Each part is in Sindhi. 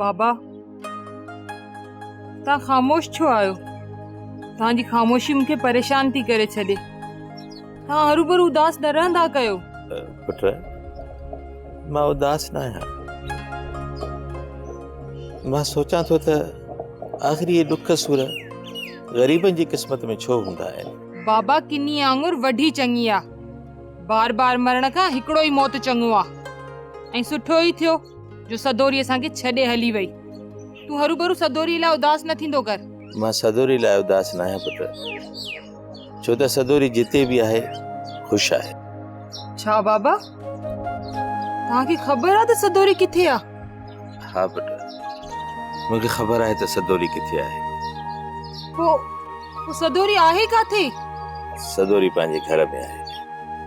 بابا تان خاموش ڇو آهيو تان جي خاموشي مونکي پريشان ٿي ڪري ڇڏي توهان هروڀرو اداس نه رهندا ڪيو. پٽ! مان اداس نه آهيان. مان سوچان ٿو ته آخر اهي ڏک سور غريبن جي قسمت ۾ ڇو هوندا آهن؟ بابا ڪني آڱر وڍي چڱي آ. بار بار مرڻ کان هڪڙو ئي موت چڱو آ. ۽ سٺو ئي ٿيو جو سدوري اسان کي ڇڏي هلي وئي. تون هروڀرو سدوري لاء اداس نه ٿيندو ڪر. مان سدوري لاء اداس نه آهيان پٽ. ڇو ته سدوري جتي به آهي خوش آهي. ڇا بابا توهان کي خبر آهي ته سدوري ڪٿي آهي؟ ها پٽ مون کي خبر آهي ته سدوري ڪٿي آهي. پوء سدوري آهي ڪاٿي؟ سدوري پنهنجي گهر ۾ آهي.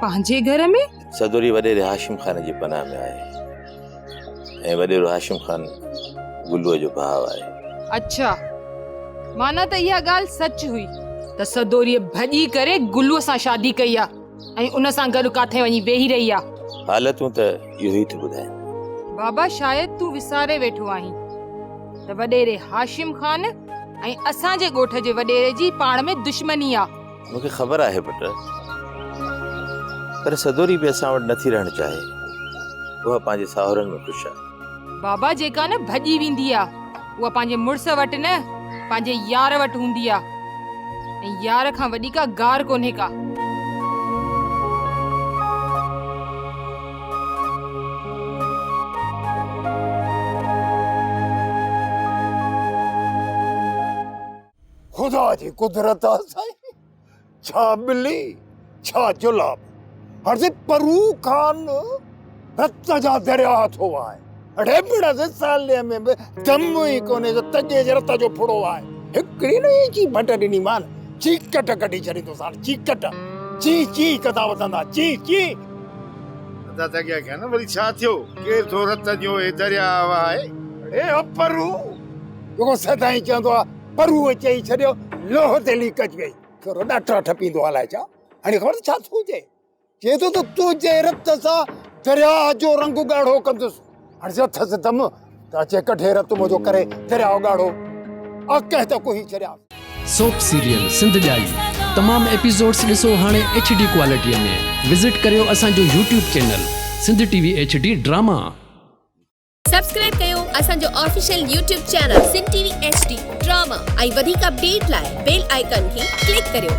پنهنجي گهر ۾؟ سدوري وڏيري هاشم خان جي پناهه ۾ آهي ۽ وڏيرو هاشم خان گلوء جو ڀاء آهي. اڇا! معنيٰ ته اها ڳالهه سچ هئي ته سدوريء ڀڄي ڪري گلوء سان شادي ڪئي آهي ۽ ان سان گڏ ڪاٿي وڃي ويهي رهي آهي. حالتون ته اهو ئي ٿيون ٻڌائين. بابا شايد تون وساري ويٺو آهين ته وڏيري هاشم خان ۽ اسان جي ڳوٺ جي وڏيري جي پاڻ ۾ دشمني آهي. مون کي خبر آهي پٽ، پر سدوري به اسان وٽ نه ٿي رهڻ چاهي. اها پنهنجي ساهرن ۾ خوش آهي. بابا جيڪا نه ڀڄي ويندي آ، اها پنهنجي مڙس وٽ نه، پنهنجي يار وٽ هوندي آ. ۽ يار کان وڏي ڪا گار ڪونهي ڪا. خدا جي قدرت آ سائين ڇا ٻلي ڇا جلاب هڙسي پرو کان رت جا درياء ٿو وهائي اڙي بڙا سي سالي ۾ به دم ئي ڪونهي جو تجي جي رت جو ڦڙو وهائي هڪڙي نه هي چي ڀٽ ڏني مان چيڪٽ ڪڍي ڇڏي تو سان چيڪٽ چي چي ڪدا وسندا چي چي ادا تگيا کي نه وري ڇا ٿيو ڪير ٿو رت جو هي درياء وهائي اڙي پرو جيڪو سدائين چوندو آ پرو چئي ڇڏيو لوهه تي ليڪ اچ گئي ٿورو ڏاٽرا ٺپيندو الاء ڇا هاڻي خبر ڇا ٿو چئي چئي ٿو ته تنهنجي رت سان درياء جو رنگ ڳاڙهو ڪندس هاڻي جو اٿس دم ته اچي ڪڍي رت منهنجو ڪري درياء ڳاڙهو آ ڪنهن ته ڪوهي ڇڏيا سوپ سيريل سنڌ ڄائي تمام ايپيسوڊس ڏسو هاڻي ايڇ ڊي ڪوالٽي ۾ وزٽ ڪريو اسان جو YouTube channel Sindh T V H D drama. Subscribe ڪيو اسان جو official YouTube channel Sindh T V H D drama ۽ وڌيڪ اپڊيٽ لاء بيل آئيڪان کي ڪلڪ ڪريو.